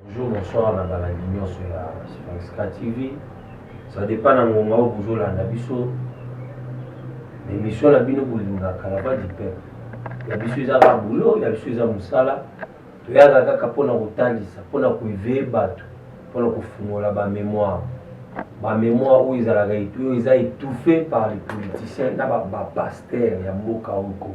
Bonjour, bonsoir na balandi nyonso ya Franska TV. Ça dépend na ngonga oyo bozolanda biso. Emission na bino bolingaka la voix du peuple. Ya biso eza kaka boulot, ya biso eza mosala. Toyaka kaka mpo na kotalisa, mpo na koeveye bato, mpo na kofungola ba mémoire. Ba mémoire oyo ezalaka oyo eza étouffé par les politiciens na ba, ba pasteurs ya mboka oyo Congo.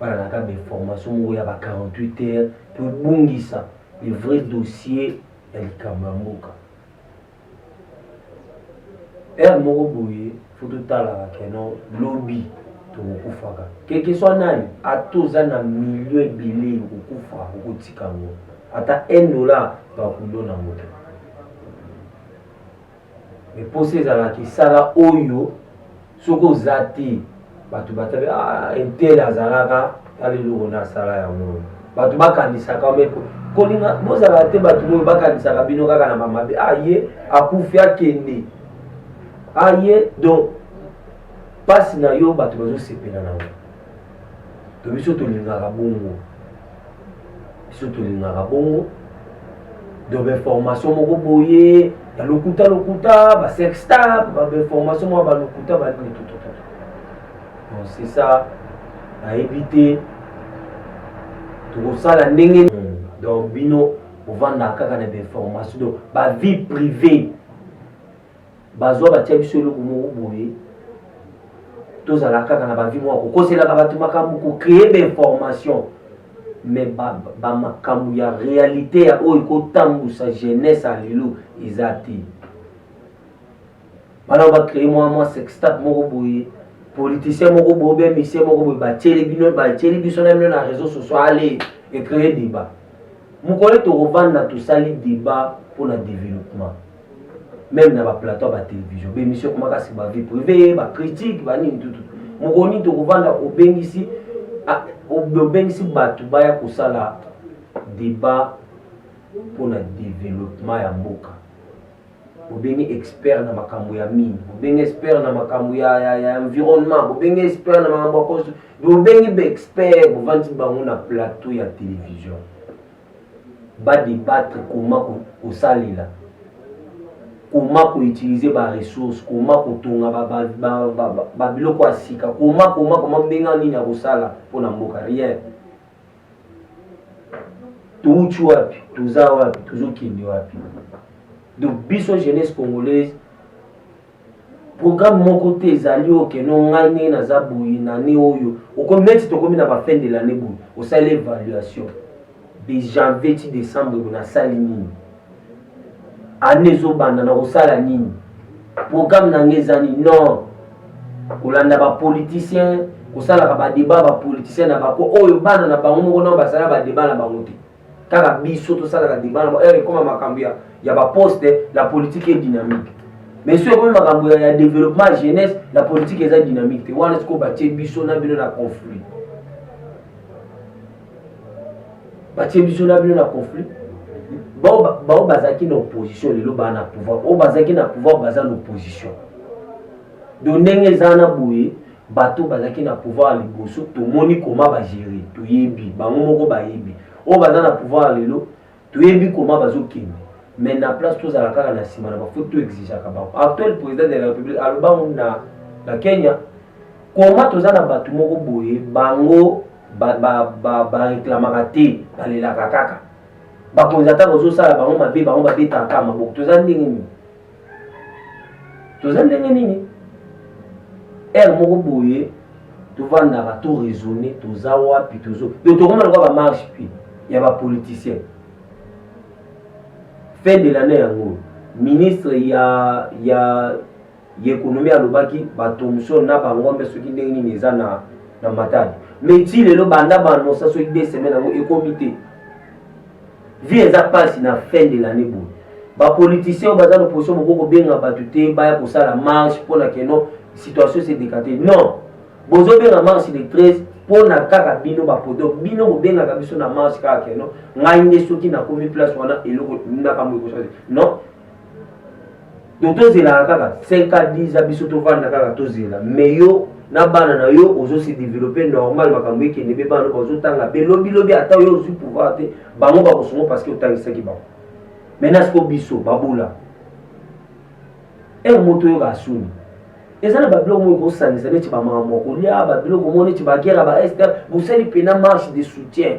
bana na kaka bainformation moko ya ba 48 heures mpe obungisa le vrai dossier ya likambo ya mboka heure moko boye fo totalaka keno lobi tokokufaka keke swa nani ata oza na milio ebele okokufa okotika yango ata 1 dollar bakulona moto mais posa ezalaka esala oyo soki oza te bato batabi ah, intel azalaka tala eloko na asala yango bato bakanisaka ome kolinga bozalaka te bato oyo bakanisaka bino kaka na bamabe aye ah, akufi akende aye ah, donc mpasi na yo bato bazosepela na yango to biso tolingaka bongo biso tolingaka bongo donc bainformation moko boye ya lokuta lokuta basextap bainformation moko ya balokuta banini tututu donc c'est ça nayebi te tokosala ndenge donc bino ovandaka kaka na bainformation donc bavie privée bazwa batia biso eloko moko boye tozala kaka na bavi moko kokoselaka bato makambo kocreye bainformation mais bamakambo ba ya réalité ya oyo ekotambusa jeunesse ya lelo eza te bana bacreye mwa mwa sextap moko boye politicien moko boye be misie moko boye batieli bino batieli biso na bino na réseau social ale ecreye débat mokolo tokovanda tosali débat mpo na développement meme na baplateau ya batelevision bemission ekomaka si bavie privé bacritique banini tutu mokolo nini tokovanda obengisi ah, obengisi bato baya kosala débat mpona développement ya mboka bobengi expert na makambo ya mine bobengi expert na makambo ya, ya, ya environnement bobengi expert na makambo ya construction bobengi baexpert bovandi bango na plateau ya télévision ba debattre comment kosalela, comment ko utiliser ba ressources, comment kotonga ba biloko ya sika, comment comment comment ndenge wana nini akosala mpo na mboka? Rien. Touti wapi? Toza wapi? Tozokende wapi? Donc biso jeunesse congolaise programme moko te ezali oyo keno ngai ndenge naza boye na ne oyo okomi neti tokomi na bafin de lannée boye osali évaluation de janvier ti décembre boye nasali nini ane ezobanda na kosala nini programme na ngai eza nini non kolanda bapoliticien kosalaka badeba bapoliticien na bako oyo bana na bango moko nao basala badeba na bango te kaka biso tosalaka debat na heure ekoma makambo ya, ya baposte la politique est dynamique mais soki ekomi makambo ya, ya développement ya jeunesse la politique eza dynamique te wana sikoyo batie biso na bino na conflit batie biso na bino na conflit baoyo bazalaki na opposition lelo baa na pouvoir oyo bazalaki na pouvoir baza na opposition do ndenge eza na boye bato bazalaki na pouvoir ya liboso tomoni koma bagere toyebi bango moko bayebi oyo baza na pouvoir ya lelo toyebi koma bazokende mais na place tozala kaka na nsima na bafo to exigeaka bango actuel président de la république alobango na, na kenya koma toza na bato moko boye bango bareklamaka ba, ba, ba te balelaka kaka bakonzi ata bazosala bango mabe bango babetaka maboko toza ndenge nini toza ndenge nini heure moko boye tovandaka to raisonne toza wapi tozo yo tokoma lokola bamarche mpe ya bapoliticien fin de lannée yango ministre ya ya ya ekonomi alobaki batomson na bangombe soki ndenge nini eza na na matadi mais ti lelo banda baanonsa soki de semaine yango ekomi te vie eza pasi na fin de l'année boye ba politiciens oyo baza na position boko kobenga bato te baya kosala marche mpo na keno situation se dekate non bozobenga marche le 13 mpo na kaka bino bapoto bino bobengaka biso na marche kaka keno ngai nde soki nakomi place wana eloko nakambo ekosala non donc tozelaka kaka 5 a 10 a biso tovanda kaka tozela mais yo na bana na yo ozosi developpe normal makambo ekende mpe bana bazotanga mpe lobilobi ata yo ozwi pouvoir te bango bakosungo parce que otangisaki bango maintenant siko biso babula ere eh, moto oyoka asuni eza na babiloko moyo kosangisa neti bamakambo ya kolia babiloko moko neti bagera ba ester bosali mpena marche de soutien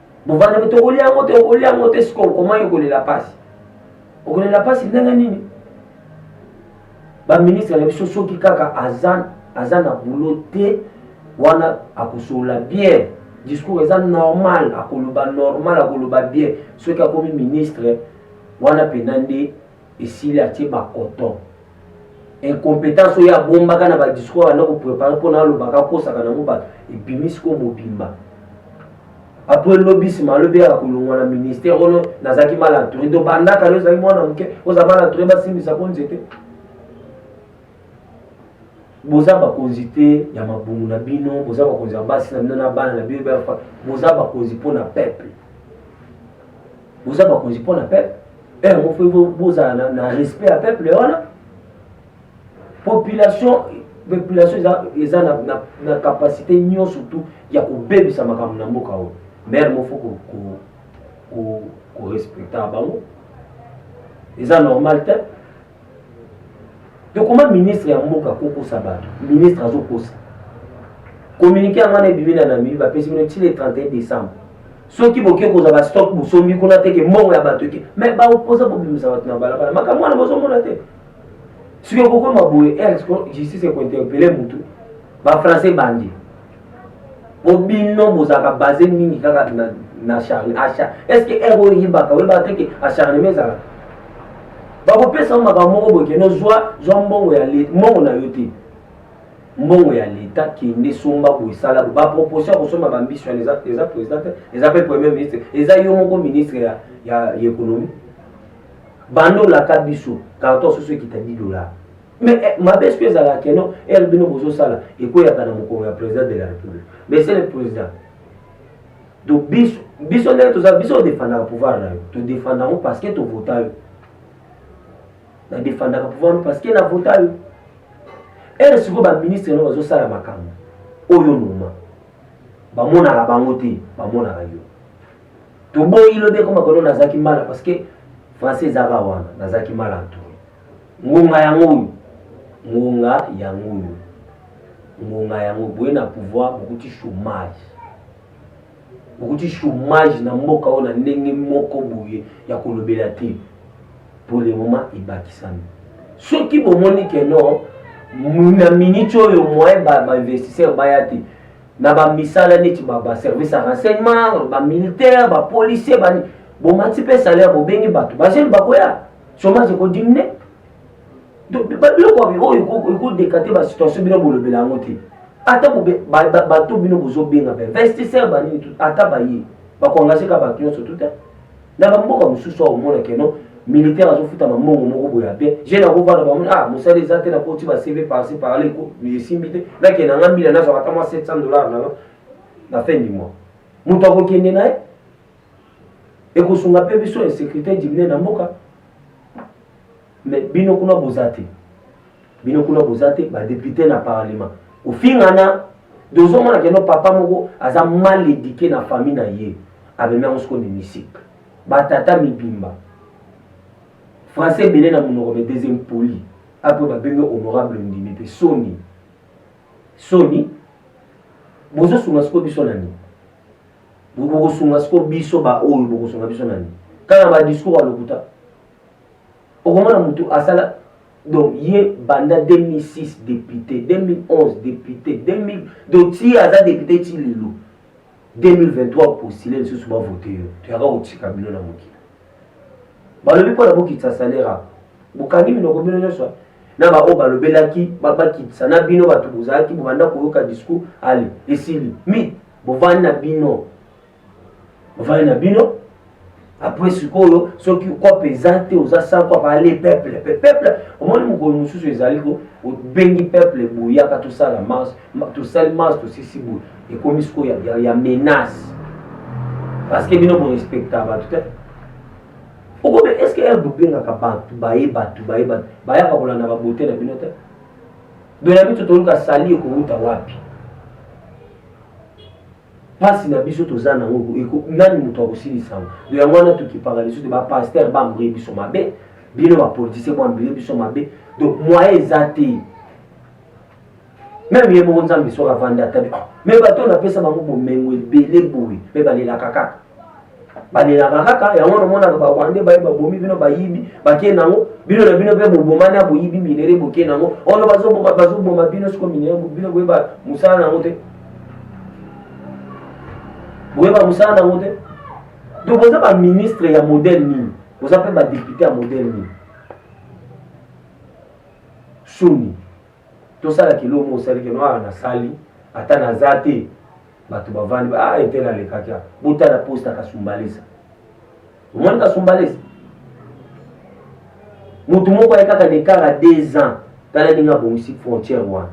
bovanda me tokolia yango te okolia yango te sikoyo okomaki okolela mpasi okolela mpasi ndenge nini baministre na biso soki kaka aza aza na boulot te wana akosolola bien discours eza normal akoloba normal akoloba bien soki akomi ministre wana mpenza nde esili atie bacoton incompetence oyo abombaka na badiscours abanda koprepare mpona alobaka akosaka nango bato ebimi sikoyo mobimba apres lobi nsima alobi yaka kolongwa na ministère ono nazalaki mal entouré to bandaka yo ozalaki mwana moke oza mal entouré basimbisa mpo nzete boza bakonzi te ya mabungu na bino boza bakonzi ya basi na bino na bana na bino boza bakonzi mpo na peuple boza bakonzi mpo na peuple heure moko fo bozala na, na respect ya peuple wana population population eza, eza na, na, na capacité nyonso tu ya kobebisa makambo na mboka oyo maire moko fo korespecta bango eza normal te tokoma ministre ya mboka kokosa bato ministre azokosa communiqué yango wana ebimi na namibi bapesi bino ti le 31 décembre soki boke kozwa ba stock bosombi kuna te ke mbongo ya bato eke me baopoza bobimisa bato na balabala makambo wana bozomona te soki okokoma boye esko justice ekointerpele motu bafrançais bandi po bino bozalaka base mingi kaka na, na charne acha eske ere oyibaka oyebaka te ke acharnement ezalaka bakopesa yo makambo moko boye keno zwa zwa mbongo ya mbongo na yo te mbongo ya leta kende somba boye sala boye baproposition ya kosomba bambiso wana eza eza président te eza mpe premier ministre eza yo moko ministre ya, ya, ya économie banda olaka biso karton soso ekita 10 dollar mais eh, mabe soki ezalaka keno ere bino bozosala ekweyaka na mokongo ya président de la république mais c'est le président donc biso biso ndenge toza biso odefandaka pouvoir na yo todefandaka parce que tovota yo na defendaka pouvoir no parce que na vota yo ere sikoyo baministre no bazosala makambo oyo noma bamonaka bango te bamonaka yo toboyi lobi ekoma kono nazalaki mala parce que français ezaka wana nazalaki mala to ngonga yango oyo ngonga yango oyo ngonga yango boye na pouvoir bokuti chômage okuti chômage na mboka oyo na ndenge moko boye ya kolobela te pour le moment ebakisami soki bomoni ke no na miniti oyo moyen bainvestisseur baya te na bamisala neti baservice ya renseignement bamilitaire bapolicier bomati mpe salaire bobengi bato bajene bakoya chômage ekodiminue biloko oyo ekodeka te basituation bino bolobela yango te ata bato bino bozobenga mpe investisseur banini ata baye bakoengage ka bato nyonso tuta na bamboka mosusu awa omona keno militaire azofuta mambongo moko boye ya bien jeune akovanda bamoni ah mosala eza te nakoti ba cv parci parla esimbi te nake nanga mbila nazwaka ata mwa 700 dollar nanga na fin du mois moto akokende na ye ekosunga mpe biso insécurité diminue na mboka mais bino kuna boza te bino kuna boza te badepute na parlement ofingana dozomona keno papa moko aza mal éduqué na famille na ye amemi yango sikoyo mimisike batata mibimba français ebele na monoko me des impoli apo babengi honorable ndimi mpe soni soni bozosunga sikoyo biso na nini bokosunga siko biso baoyo bokosunga biso na nini kaka na badiscours ya lokuta okomona motu asala donc ye banda 2006 député 2011 député 2000 donc ti aza député ti lelo 2023 postile lisusu bavote yo toyaka kotika bino na mokili balobi mpo na bokitisa salaire ako bokangi minoko bino nyonso na baoyo balobelaki bakitisa na bino bato bozalaki bobanda koyoka discours ale esili mi bovandi na bino bovandi na bino apres sikoyo soki kope eza te oza sa kope ale peuple pe peuple omoni mokolo mosusu ezali ko obengi peuple boyaka tosala marche tosali marche tosisi boye ekomi sikoyo ya, ya, ya menace parce que bino borespecta bato te okobe est ce que ere bobengaka bato baye bato baye bato bayaka kolanda babote na bino te doya biso toluka sali ekowuta wapi mpasi na biso toza nango nani moto akosilisa yango do yango wana tokipaka lisusu te bapaster bambrie biso mabe bino bapolitisien boambrie biso mabe donc moyen eza te meme ye moko nzambe soki avandi ata me bato oyo napesa bango bomengo ebele boye mpe balelaka kaka balelaka kaka yango wana omonaka barwandais baye babomi bino bayibi bakei nango bino na bino mpe bobomani ya boyibi minere bokei nango ono bazoboma bazoboma bino siko minere bino boyeba mosala na yango te boyeba mosala na yango te to boza baministre ya modele nini boza mpe badepute ya modele nini soni Tosala kilo mo osali kino awa nasali ata naza te bato bavandi ba ah, etele alekaki awa botala posta kasumbalesa omoni kasumbalesa motu moko aye kaka nekara deux ans tala ndenge abongisi frontière wana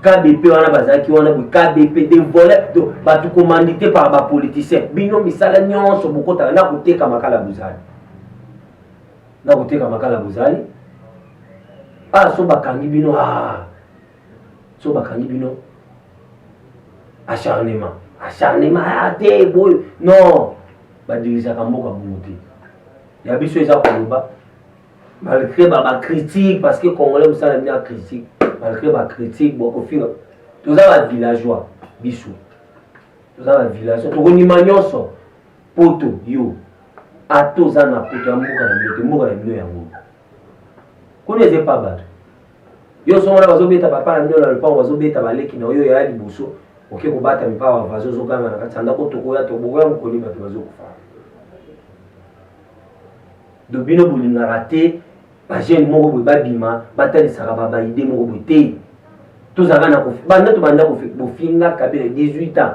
kdp wana bazalaki wana boye kdp de volet bato commandité par bapoliticien bino misala nyonso bokotaka na koteka makala bozali na koteka makala bozali ah so bakangi bino ah so bakangi bino acharnement acharnement ah te boye non badirisaka mboka bongo te ya biso eza koloba malgré bacritique parce que congolais mosala bino ya critique malgré bacritique bokofinga toza bavillageois biso toza bavillageois tokondima nyonso Poto yo ata oza na poto ya mboka na bino te mboka na bino yango kuna eza epa bato yo so wana bazobeta papa na bino na lopango bazobeta baleki na oyo ya liboso oke kobata mipa ba vazo ozoganga na kati ya ndako tokoya to bokoya mokoni bato bazokufa do bino bolingaka te bajeune moko boye babima batalisaka babaide moko boye te tozalaka na banda tobanda bofinga kabila 18 ans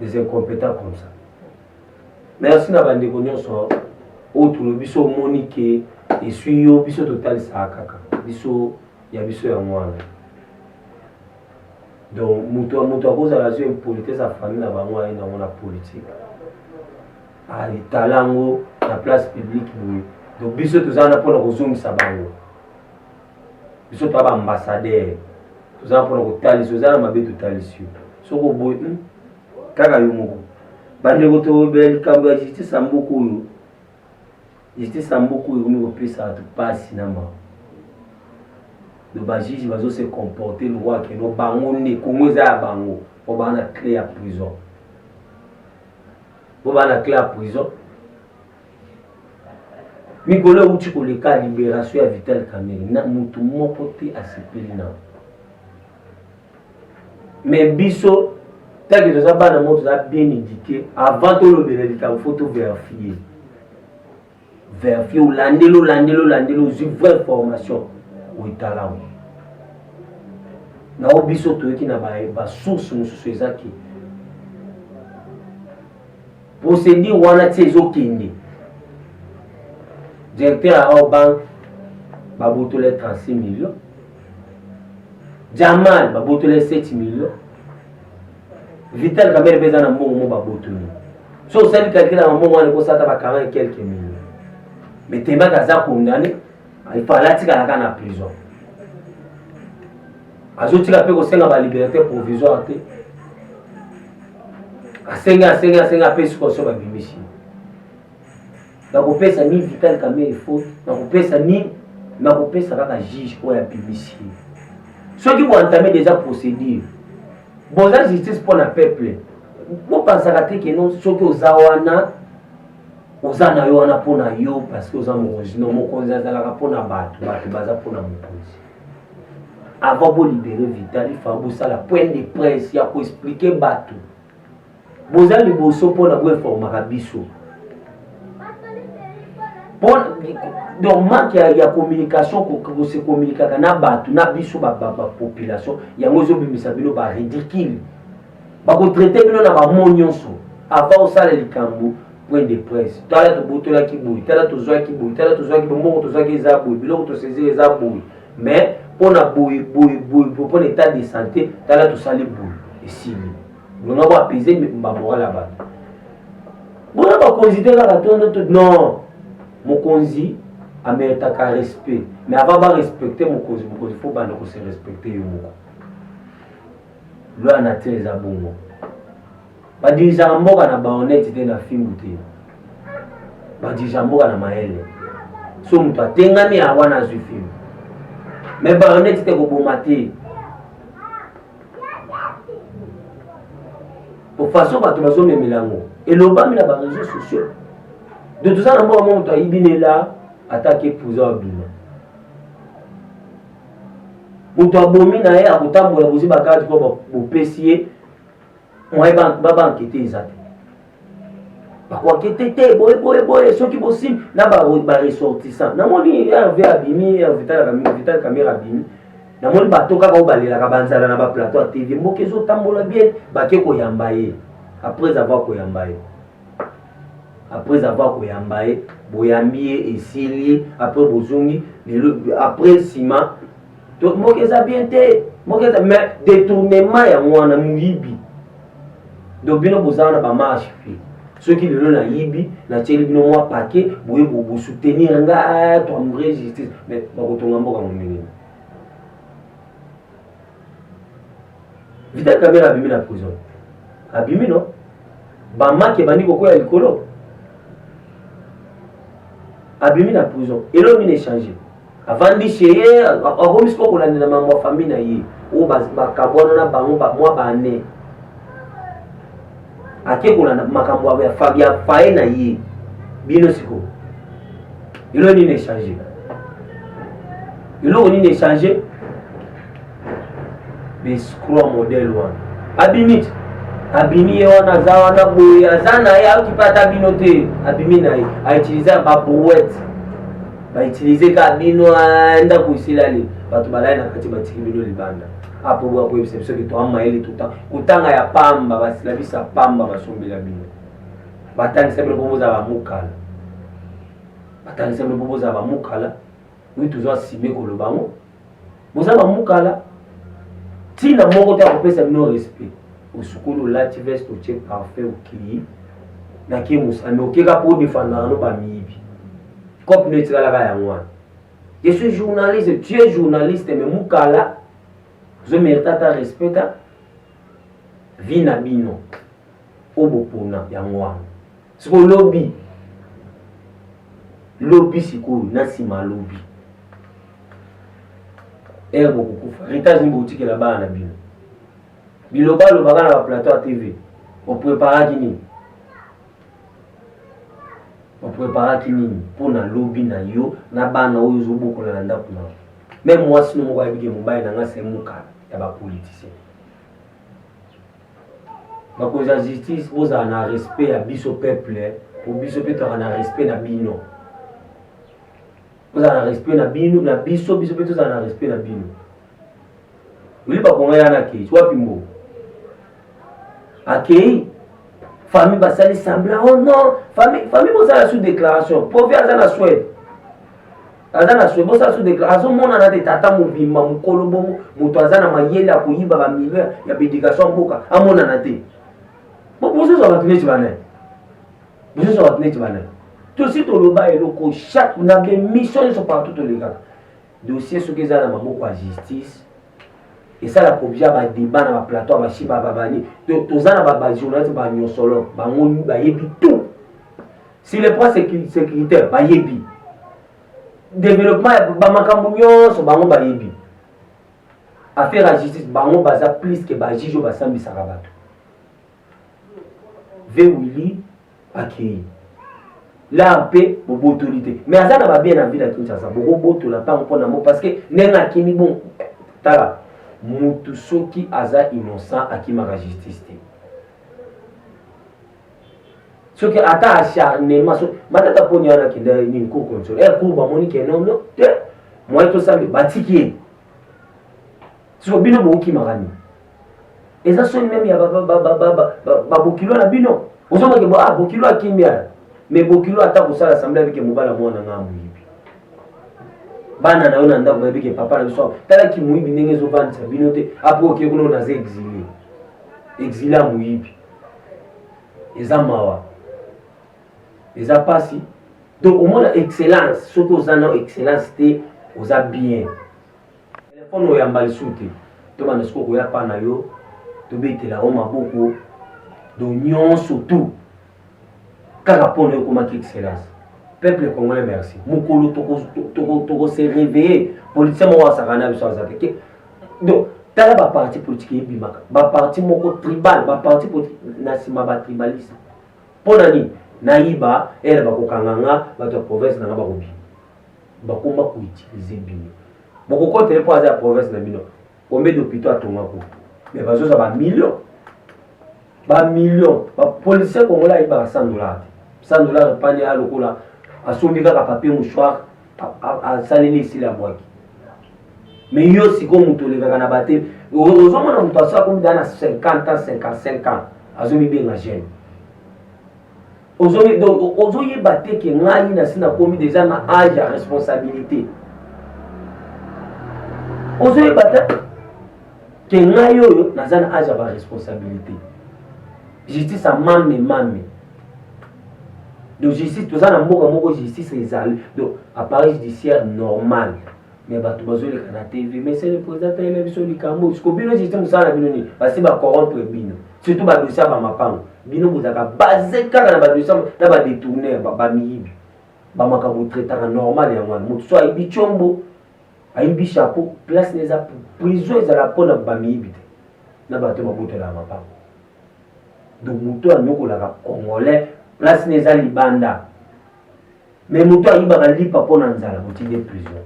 des incompétents comme ça merci na bandeko nyonso oyo tolobi biso omoni ke eswi yo biso totalisaka kaka biso ya biso yango wana donc moto moto akozala zwi impolitesse ya famille na bango aye nango na politike alitala yango na place publique boye donc biso toza wana mpona kozongisa bango biso toza baambassadeur toza mpona kotalisa oza na mabe totalisi yo soki oboyi hmm, kaka yo moko bandeko tobela likambo ya justice ya mboka oyo justice ya mboka oyo ekomi kopesa bato mpasi na mawa do bajuge bazo se comporte lokola keno bango nde kongo eza ya bango po baa na cle ya prison po baa na cle ya prison mikolo euti koleka liberation ya vital kamere na motu moko te asepeli na me biso ntanke toza bana moko toza bien édike avant tolobela likambo fo toverifie verifie olandeli olandeli olandeli ozwi vraie formation oetalamu nao biso toyoki na basource mosusu eza ke procédure wana ti ezokende directeur ya awa banque babotola ye 36 million jamal babotola ye 7 million vital kamere mpe eza na mbongo mo babotoli so osali kalkila na mbongo wana ekosata ba 40 quelque million mais tembaka aza condamne il fallait atikala kaka na prison azotika mpe kosenga baliberte provisoire te asengi asengi asengi apesi koso babimisi nakopesa ni vital kamere faute nakopesa ni nakopesa kaka juge oyo abimisi soki boentame deja procédure boza justice mpo na peuple bopansaka te keno soki oza wana oza na yo wana mpo na yo parce que oza mokonzi no mokonzi azalaka mpo na bato bato baza mpo na mokonzi avant bolibere vitali fa bosala point de presse ya koexplike bato boza liboso mpo na boinformaka biso donc manque ya, ya communication kose communikaka na bato na biso bapopulation yango ezobimisa bino baridicule bakotraite bino na bamo nyonso avant osala likambo point de presse tala tobotolaki boye tala tozwaki boye tala tozwaki boye mbongo tozwaki eza boye biloko tosezeli eza boye mais mpo na boye boye boye mpo na état de santé tala tosali boye esili longa bo apese bamoral ya bato bona bakonzi te kaka tondoto non mokonzi ameritaka respect mais avant barespecte mokonzi mokonzi fo banda kose respecte yo moko Loi nature eza bongo. Ba dirigeaka mboka na baonete te na fimbu te. Ba dirigeaka mboka na mayele. So moto atengami ya wana azwi fimbu. Me baonete te koboma te. Po façon bato bazomemela yango elobami na ba réseaux sociaux. De toza na mboka moko moto ayibi nela atake pouza obima. moto abomi na ye akotambola bozwi bakati mpo bopesi ye moye babankete eza te bakoakete te boye boye boye soki bosili na baressortissant namoni rv abimi vital camera abimi namoni bato kaka oyo balelaka banzala na baplateau ya tv mboka ezotambola bien bake koyamba ye après avoir koyamba ye après avoir koyamba ye boyambi ye esili après bozongi lelo après nsima mboka eza bien te mboka eza mais détournement yango wana moyibi donc bino bozala na bamarche fi soki lelo nayibi natyeli bino mwa pake boye bosoutenir nga toambre justice mais bakotonga mboka monene Vital Kamerhe abimi na prison, abimi no bamaki ebandi kokwea likolo, abimi na prison, eloko nini echange? avandi chez ye akomi sikoyo kolandela mambo ya famille na ye oyo bakabwana na bango mwa bane ake kolanda makambo ya fabia paye na ye bino sikoyo eloko nini echange eloko nini echange bescro modele wana abimi te abimi ye wana aza wana boye aza na ye ayoki mpe ata bino te abimi na ye autilize babrouette bautilize ka bino ndako esilali bato balai na kati batiki bino libanda apo boya koyebisa biso ke toa mayele tuta kotanga ya pamba basilabisa pamba basombela bino batangisa bino mpo bozala bamukala batangisa bino mpo bozala bamukala oyo tozwa sime koloba yango boza bamukala ntina moko te akopesa bino respect osukoli olati veste otie parfum okei nake mosami okeka mpo odefandaka no bamiyibi cope no etikalaka yango wana Je suis journaliste, tu es journaliste, mais Mukala, je mérite ta respect, vie na bino, obopona ya mwana. Siko lobi, lobi sikoyo na nsima lobi. Ere eh, bokokufa, heritage nini bokotikela bana na bino. Biloba lobaka na ba plateau ya TV, opreparaki nini? opreparaki nini mpo na lobi na yo na bana oyo ozobokola na ndako na me mwasi no moko ayebike mobali na ngai semuka ya bapolitisien bakonzi ya justice bozala na respect ya biso peuple po biso mpe tozala na respect na bino bozala na respect na bino na biso biso mpe tozala na respect na bino Oliba konga yana akei wapi mbo akei famille basali semblant oh non famille famille bosala sous déclaration profi aza na swede aza na swede bosala sous déclaration azomonana te tata mobimba mokolo bongo moto aza na mayele ya koyiba bamilio ya bédication mboka amonana te bozozwa bato neti bana bozozwa bato neti bana tosi toloba eloko chaque na bemission nyonso partout tolekaka dossier soki eza na maboko ya justice esala kobia badeba na baplateau basi bababani toza na bajournaliste banyosolo bango bayebi tout si le point sécuritaire bayebi développement bamakambo nyonso bango bayebi affaire ya justice bango baza plus ke bajuge oyo basambisaka bato Ve Willy akei la mpe bobotoli te mais aza na babie na ville ya kinshasa bokobotola ntango mpo na mo parce que ndenge akimi bon tala mutu soki aza innocent akimaka justice te soki ata acharnement so matata poni wana akenda nini cour control er eh, cour bamoni ke nono te moye tosambe batiki ye siko bino bokokimaka nini eza soni meme ya babokilo na bino ozongake bo ah bokilo akimi ala mais bokilo ata kosala assemble abike mobala mwana nga moyibi bana na yo na ndako bayebike papa na biso tala kimoyibi ndenge ezovandisa bino te apres oke kuna naza exile exile ya moyibi eza mawa eza mpasi donc omona excellence soki oza na excellence te oza bien Telefone oyamba lisusu te. Tobanda sikoyo koya pa na yo tobetela yo maboko do nyonso tu kaka mpo na yo okomaki excellence peuple congolais merci mokolo tokose réveille politicien moko asaka na biso aza te donc tala baparti politique ebimaka baparti moko tribal baparti politique na nsima batribaliste mpo na nini nayiba ere bakokanga nga bato ya province na nga bakobima bakoma ko utiliser bino bokokota ye mpo aza ya province na bino combien d'hôpitaux atonga ko mais bazoza ba million ba million bapoliticien congolais ayebaka 100 dollar te 100 dollar epani ya lokola asombi kaka papier mouchoir asaleli esili abwaki me yo sikoyo moto olekaka na bate ozomona moto asala komida na 50 ans 55 ans azomibenga gene ozomi donc ozoyeba te ke ngai nasi nakomi deja na age ya responsabilité ozoyeba te ke ngai oyo naza na age ya baresponsabilité justice amame mame donc justice toza na mboka moko justice ezali donc appareil judiciaire normal mais bato bazoleka na tv mais sele président tayela biso likambo siko bino sisi mosala na bino nini basi bacorrompre bino surtout badosie ya bamapango bino bozalaka base kaka na badosie na badetourner bamiyibi bamakambo traitaka normal yango wana moto so ayibi combo ayibi chapeau place na eza prison ezala mpona bamiyibi te na bato babotelaka mapango donc moto anyokolaka congolais place na eza libanda me moto ayibaka lipa mpo na nzala kotinde prison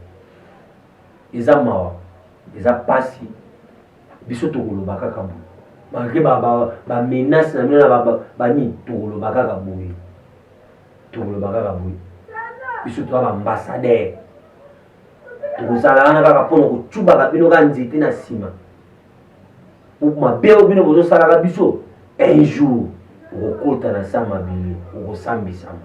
eza mawa eza mpasi biso tokoloba kaka boye malgre bamenace na bino na banini tokoloba kaka boye tokoloba kaka boye biso toza baambassadeur tokozala wana kaka mpo na kotubaka bino kaka nzete na nsima mabe oyo bino bozosalaka biso un jour okokota na sa mabele okosambisama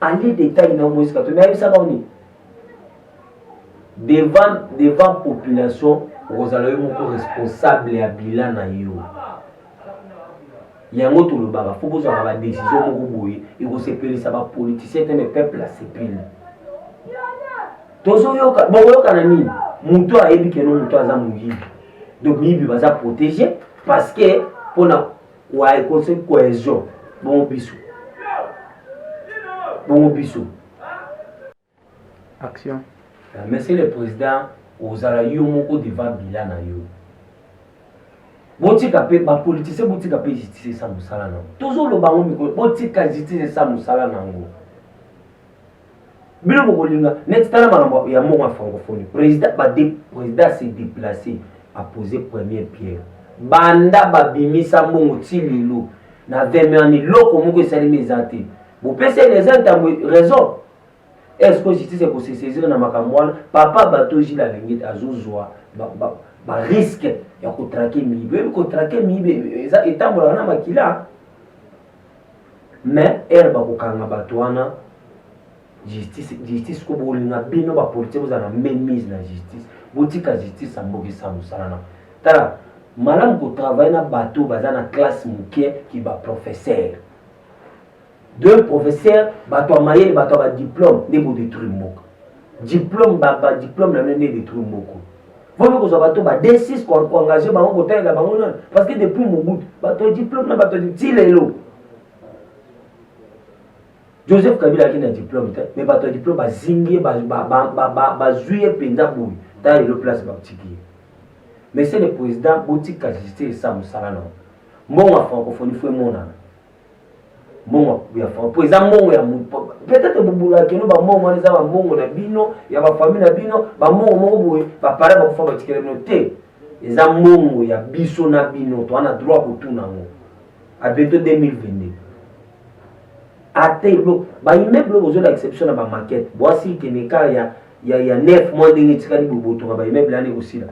Allez détail na Moïse Katumbi ayebisa bango nini devant devant population okozala yo moko responsable ya bila na yo yango tolobaka fo kozwaka badesizio moko boye ekosepelisa bapoliticien te me peuple asepeli tozoyoka bokoyokana nini motu ayebi keno motu aza moyibi donc miyibi baza protege parce que mpona Ouais, conseil cohésion. Bon bisou. Bon bisou. Action. Euh, monsieur le président ozala yo moko devant bila na yo botika mpe bapolitisien botika mpe justice esa mosala na yango tozoloba yango mikolo botika justice esa mosala na yango bino bokolinga neti tala makambo ya mbongo ya francophonie président président se déplacer apose première pierre banda babimisa mbongo ti lelo na 20 million eloko moko esalemi eza te bopesi ene eza ntango raison est ce que justice ekosesaisir na makambo wana papa bato jile alengete azozwa bariske ya kotrake miyibi oyebi kotrake miyibi etambolaka na makila mais heure bakokanga bato wana justice justice ko bolinga bino bapolitike bozala na memise na justice botika justice ambokisa mosala na tala malamu kotravaille na bato baza na classe moke ki baprofesseur de professeur bato ya mayele bato ya badiplome nde bodetruire mboka diplome badiplome na bino nde edetruire mboko Wana kozwa bato ba D6 koengage bango kotalela bango nani parce que depuis Mobutu bato ya diplome na bato ya ti lelo Joseph Kabila ayaki na diplome te mais bato ya diplome bazingi ye bazwi ye mpenza boye ta lelo place batiki ye monsieur le président botika justice esa mosala na mbongo ya francophonie fo emonana mbongo ya fond mpo eza mbongo ya peut-être bobulaka kino bambongo wana eza bambongo na bino ya bafamille na bino bambongo moko boye bapare bakufa batikela bino te eza mbongo ya biso na bino toa na droit kotuna yango a bientôt 2022 ata elo baimmeuble bozolakisa biso na bamaquete bwasi keneka ya ya ya 9 mois ndenge etikali bobotonga baimmeuble yani ekosila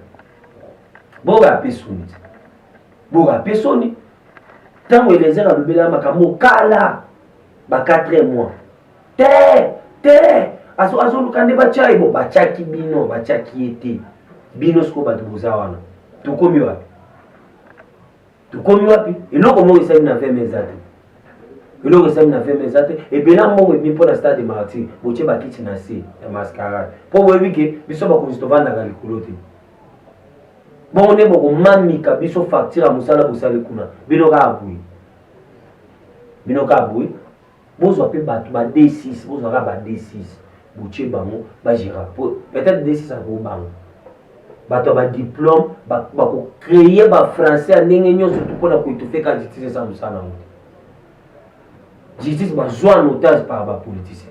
boka apesoni boka apesoni ntango eliezer alobelaka makambo mokala ba 4 mois te te azoluka nde batya ye bo batyaki bino batyaki ye te bino sikoyo bato boza wana tokomi wapi tokomi wapi eloko moko esali na vm eza te eloko esali na vm eza te ebela mbongo ebimi mpo na stade martyr botye bakiti na se ya mascarade mpo boyebi ke biso bakonzi tovandaka likolo te bongo nde bokomamika biso facture ya mosala bosali kuna bino kaka boye bino kaka boye bozwa mpe bato ba d6 bozwa kaka ba d6 botie bango bagera po peut-être d6 akobanga bato ya badiplome bakocreye bafrançais ya ndenge nyonso tu mpo na koetufe ka justice eza mosala yango te justice bazwa notage par bapoliticien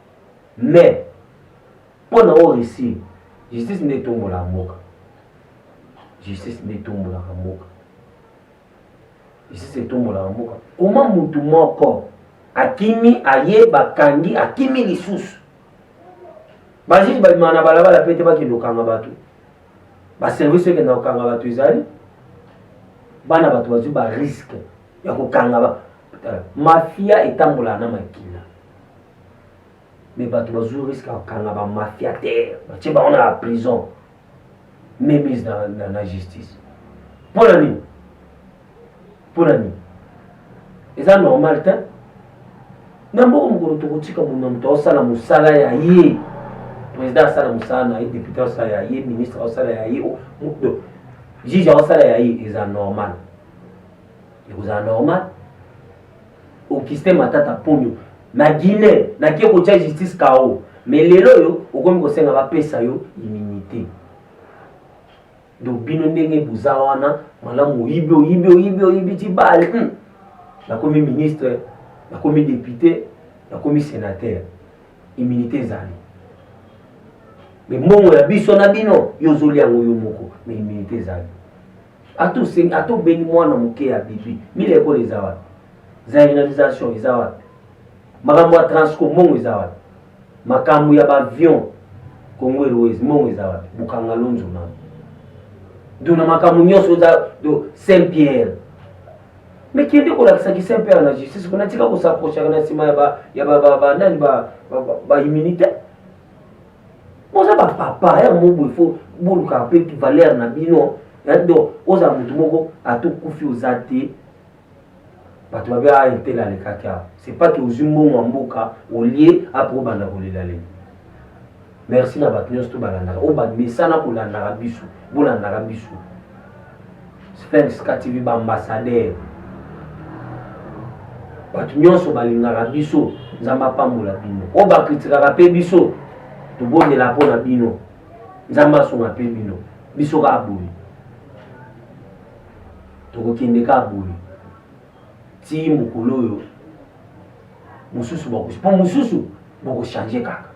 mais mpo na o réussir justice nde etombolaka mboka justice nde etombolaka mboka justice etombolaka mboka koma mutu moko akimi aye bakangi akimi lisusu bajuge babimaka na balabala mpe te bakende kokanga bato baservice oyo ekenda kokanga bato ezali bana bato bazwi bariske ya kokanga mafia etambolaka na makila me bato bazwi riske ya kokanga bamafia te batie bango na prison memise na, na, na justice mpo na nini mpo na nini eza normal te na mboka mokolo tokotika moto na moto aosala mosala ya ye président asala mosala na ye député asala ya ye ministre asala ya ye juge asala ya ye eza normal ekozala normal Augustin Matata Ponyo na Guinée na kie kotia justice kao mais lelo oyo okomi kosenga bapesa yo immunité donc bino ndenge boza wana malamu oyibi oyibi oyibi oyibi ti bale hmm. nakomi ministre nakomi député nakomi sénateur immunité ezali mais mbongo ya biso na bino yo ozoli yango yo moko mais immunité ezali Ato sengi ato bengi mwana moke ya bibi mila ekola eza wapi? Zairinisation eza wapi? Makambo ya transco mbongo eza wapi? Makambo ya bavion Congo Airways mbongo eza wapi? Bukanga lonzo na do na makambo nyonso oza do Saint Pierre mais kende kolakisa ki Saint Pierre na justice kuna tika kosaprochaka na nsima ya ba ya ba ba nani ba ba immunité boza bapapa ya mobo ifo boluka mpe valeur na bino donc ozala motu moko atokufi oza te bato babe a intel alekaki awa c'est pas que ozwi mbongo ya mboka olie apo obanda kolelalela merci na bato nyonso to balandaka oyo bamesana kolandaka biso bolandaka biso Sphinx TV ba ambassadeur bato nyonso balingaka biso nzambe apambola bino oyo bakritikaka mpe biso tobondela mpo na bino nzambe asunga mpe bino biso kaka boye tokokende kaka boye ti mokolo oyo mosusu bakosi mpo mosusu bokochange kaka